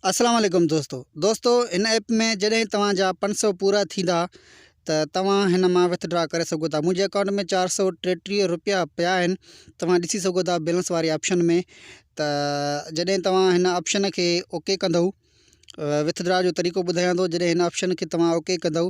اسلام عليڪم دوستو دوستو هن ايپ ۾ جڏهن توهان جا پنج سؤ پورا ٿيندا ته توهان هن مان وٿڊرا ڪري سگهو ٿا منهنجي اڪائونٽ ۾ چار سؤ ٽيٽيهه روپيا پيا آهن توهان ڏسي سگهو ٿا بيلنس واري آپشن ۾ ته جڏهن توهان هن آپشن کي اوڪي ڪندو وٿ ڊرا جو طريقو ٻڌايان ٿو جڏهن هن آپشن کي توهان اوڪي ڪندو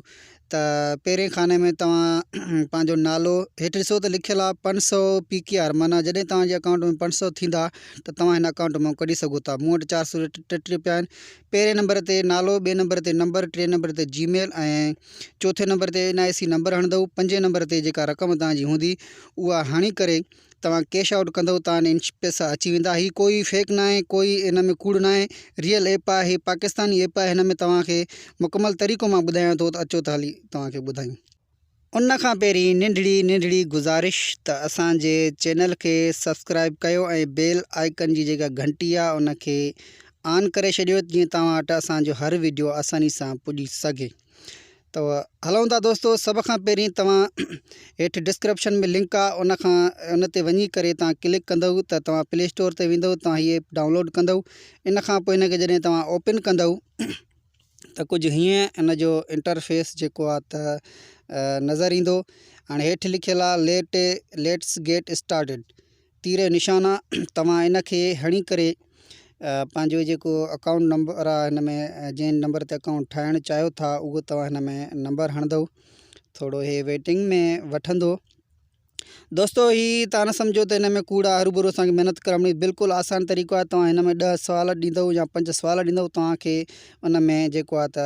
ته پهرين خاني ۾ توهان پنهنجو نالو هيٺ ڏسو ته لکيل آهي پنج سو پي ڪي آر معنيٰ جڏهن توهانجي اڪائونٽ ۾ پنج سو ٿيندا ته توهان هن اڪائونٽ مان ڪڍي سگهو ٿا مون وٽ چار سو ٽيٽيهه رپيا آهن پهرين نمبر تي نالو ٻئي نمبر تي نمبر ٽئين نمبر تي جي ميل ۽ چوٿين نمبر تي اين آء سي نمبر هڻندو پنجين نمبر تي جيڪا رقم توهانجي هوندي اها هڻي ڪري توهان ڪيش آئوٽ ڪندو تان ان پيسا اچي ويندا هي ڪوئي فيڪ ناهي ڪوئي ان ۾ ڪوڙ ناهي ريئل ايپ آهي هي پاڪستاني ايپ آهي هن ۾ توهان کي مڪمل طريقو مان ٻڌايان ٿو ته اچو ته هلي توهان کي ٻڌايون. ان کان پهرين ننڍڙي ننڍڙي گذارش ته اسان جي چينل کي سبسڪرائيب ڪيو ۽ بيل آئيڪن جي جيڪا گهنٽي آهي ان کي آن ڪري ڇڏيو جيئن توهان وٽ اسان جو هر وڊيو آساني سان پڄي سگهي ته هلون ٿا دوستو سڀ کان پهرين توهان هيٺ ڊسڪرپشن ۾ لنڪ آ ان کان ان تي وڃي ڪري توهان ڪلڪ ڪندو ته توهان پلي اسٽور تي ويندو توهان هي ايپ ڊائونلوڊ ڪندو ان کان پوء ان کي جڏهن توهان اوپن ڪندو ته ڪجهه هيئن ان جو انٽرفيس جيڪو آ ته نظر ايندو هاڻي هيٺ لکيل آ ليٽ ليٽس گيٽ اسٽارٽيڊ تير جو نشان آ توهان ان کي هڻي ڪري پنهنجو جيڪو اڪائونٽ نمبر آ هن ۾ جنهن نمبر تي اڪائونٽ ٺاهڻ چاهيو ٿا اهو توهان هن ۾ نمبر هڻندو ٿورو هي ويٽنگ ۾ وٺندو دوستو هي تان نه سمجھو ته هن ۾ ڪوڙ آ هرو بھرو اسانکي محنت ڪرڻي بلڪل آسان طريقو آ توهان هن ۾ 10 سوال ڏيندو يا 5 سوال ڏيندو توهان کي ان ۾ جيڪو آ ته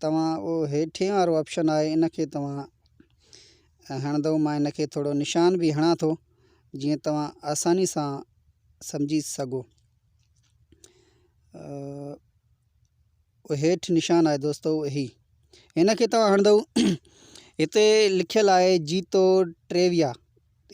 توهان اهو هيٺين وارو آپشن آهي ان کي توهان هڻندو مان ان کي ٿورو نشان به هڻان ٿو جيئن توهان آساني سان سمجهي سگهو هيٺ نشان آهي دوستو هي هن کي توهان هڻندو هتي لکيل آهي جيتو ٽيويا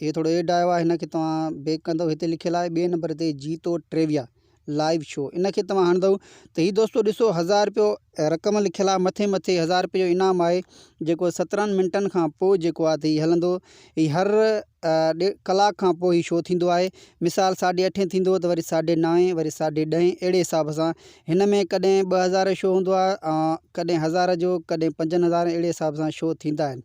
هي ٿورو ايڊ آيو آهي هن کي توهان بيڪ ڪندو هتي لکيل آهي ٻئي نمبر تي جيتو ٽريويا لائيو شو ان کي توهان هڻندو ته هي دوستو ڏسو هزار رپيو رقم لکيل آهي مٿي مٿي هزار رپيو جو انعام آهي جيڪو سترهن منٽن کان پوء جيڪو آهي ته هي هلندو هي هر ڏي ڪلاڪ کان پوء هي شو ٿيندو آهي مثال ساڍي اٺين ٿيندو ته وري ساڍي نائين وري ساڍي ڏهين اهڙي حساب سان هن ۾ ڪڏهن ٻه هزار شو هوندو آهي ڪڏهن هزار جو ڪڏهن پنجن هزارن اهڙي حساب سان شو ٿيندا آهن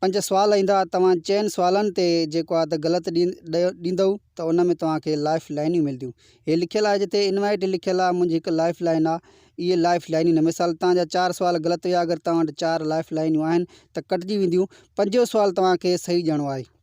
پنج سوال ايندا توهان چئن سوالن تي جيڪو آ ته غلط ڏيندئو ته ان ۾ توهان کي لائف لائنيون ملديون هي لکيل آ جتي انوائيٽ لکيل آ منهنجي هڪ لائف لائين آ اهي لائف لائنيون نه مثال توهان جا چار سوال غلط هيا اگر توهان وٽ چار لائف لائنيون آهن ته ڪٽجي وينديون پنجون سوال توهان کي صحيح ڏيڻو آهي.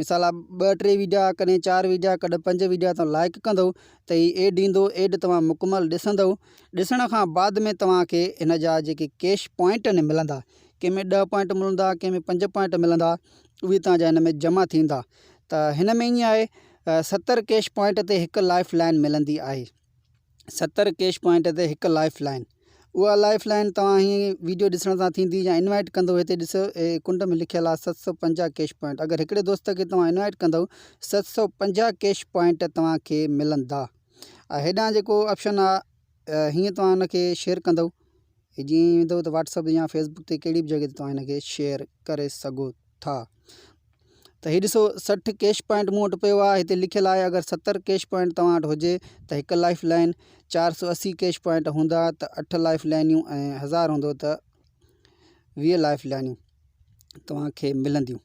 مثال آ ٻه ٽي ويڊيا ڪڏهن چار ويڊيا ڪڏهن پنج ويڊيا تون لائڪ ڪندو ته هي ايڊ ايندو ايڊ توهان مڪمل ڏسندو ڏسڻ کان بعد ۾ توهان کي هن جا جيڪي ڪيش پوائنٽ آهن ملندا ڪنهن ۾ ڏهه پوائنٽ ملندا ڪنهن ۾ پنج پوائنٽ ملندا اهي توهان جا هن ۾ جمع ٿيندا ته هن ۾ ائين آهي ستر ڪيش پوائنٽ تي هڪ لائف لائن ملندي آهي ستر ڪيش پوائنٽ تي هڪ لائف لائن اها لائف لائن توهان هي ويڊيو ڏسڻ سان ٿيندي يا انوائٽ ڪندو هتي ڏسو هي ڪنڊ ۾ لکيل آهي ست سؤ پنجاهه ڪيش پوائنٽ اگر هڪڙي دوست کي توهان انوائٽ ڪندو ست سؤ پنجاهه ڪيش پوائنٽ توهان کي ملندا هيڏانهن جيڪو آپشن آهي هيئن توهان ان کي شيئر ڪندو هي جيئن ئي ويندو ته واٽس اپ يا فيس بڪ تي ڪهڙي به جڳهه تي توهان هن کي شيئر ڪري سگهو ٿا ته هي ڏسو سٺ ڪيش پوائنٽ مون وٽ پيو آهي هتي لکيل آهي اگر ستر ڪيش پوائنٽ توهان وٽ هجي ته هڪ لائف لائن چار سو اسي ڪيش پوائنٽ هوندا ته اٺ لائف لائنيون ۽ هزار هوندو ته ويهه لائف لائنيون توهان کي ملنديون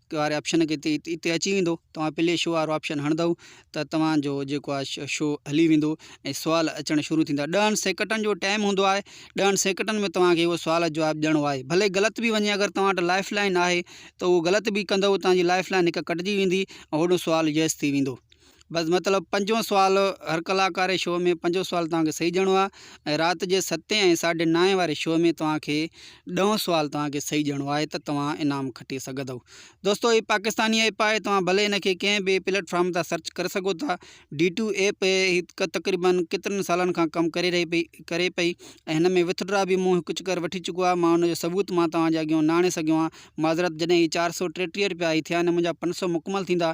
واري آپشن کي اتي اچي ويندو توهان پلي شو وارو آپشن هڻندو ته توهان جو جيڪو آهي شو هلي ويندو ۽ سوال اچڻ شروع ٿيندا ڏهن سيڪٽن جو ٽائيم هوندو آهي ڏهن سيڪٽن ۾ توهان کي اهو سوال جواب ڏيڻو آهي ڀلي غلط به وڃي اگر توهان وٽ لائف لائن آهي ته اهو غلط به ڪندو توهان جي لائف لائن هڪ ڪٽجي ويندي ۽ هوڏو سوال يس ٿي ويندو بس مطلب پنجون سوال هر ڪلاڪاري شو ۾ پنجون سوال توهان کي صحيح ڏيڻو آهي رات جي ستين ۽ ساڍي نائين واري شو ۾ توهان کي ڏهون سوال توهان کي صحيح ڏيڻو آهي ته توهان انعام کٽي سگهندو دوستو هي پاڪستاني ايپ آهي توهان ڀلي ان کي ڪنهن به پليٽ فارم تان سرچ ڪري سگهو ٿا ڊي ٽو ايپ هڪ تقريبن ڪيترن سالن کان ڪم ڪري رهي پئي ڪري پئي ۽ هن ۾ وٿ ڊرا به مون هڪ چڪر وٺي چڪو آهي مان ان جو ثبوت مان توهان جي اڳيان نه آڻي سگهيو آهيان معذرت جڏهن هي چار سؤ ٽيٽيهه روپيا هي ٿيا آهن منهنجا پنج سؤ مڪمل ٿيندا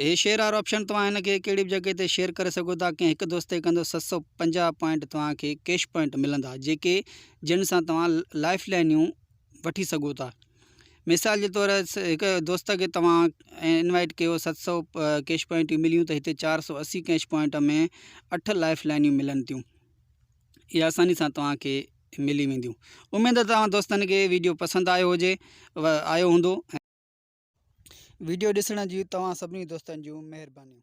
هي شيئر آر آپشن توهان هن کي ڪهڙي به جڳهه تي شيئر ڪري سگهو ٿا ڪنهن هڪ دوست تي ڪندو ست سؤ پنجاهه پوائنٽ توهان کي ڪيش پوائنٽ ملندا جيڪي جن سان توهان لائف لائنيون وٺي سگهو ٿا مثال جي طور هڪ دوست کي توهان انوائٽ ڪيو ست سؤ ڪيش پوائنٽيون مليون ته هتي چار سؤ اسي ڪيش پوائنٽ ۾ اٺ لائف لائنيون ملن ٿيون اهي آساني سان توهان کي ملي وينديون اميد توهان دوستن کي ويڊيو پسند آيو هجي آيو هوندو ويڊيو ڏسڻ جون توهان سڀني دوستن جون مهربانيون.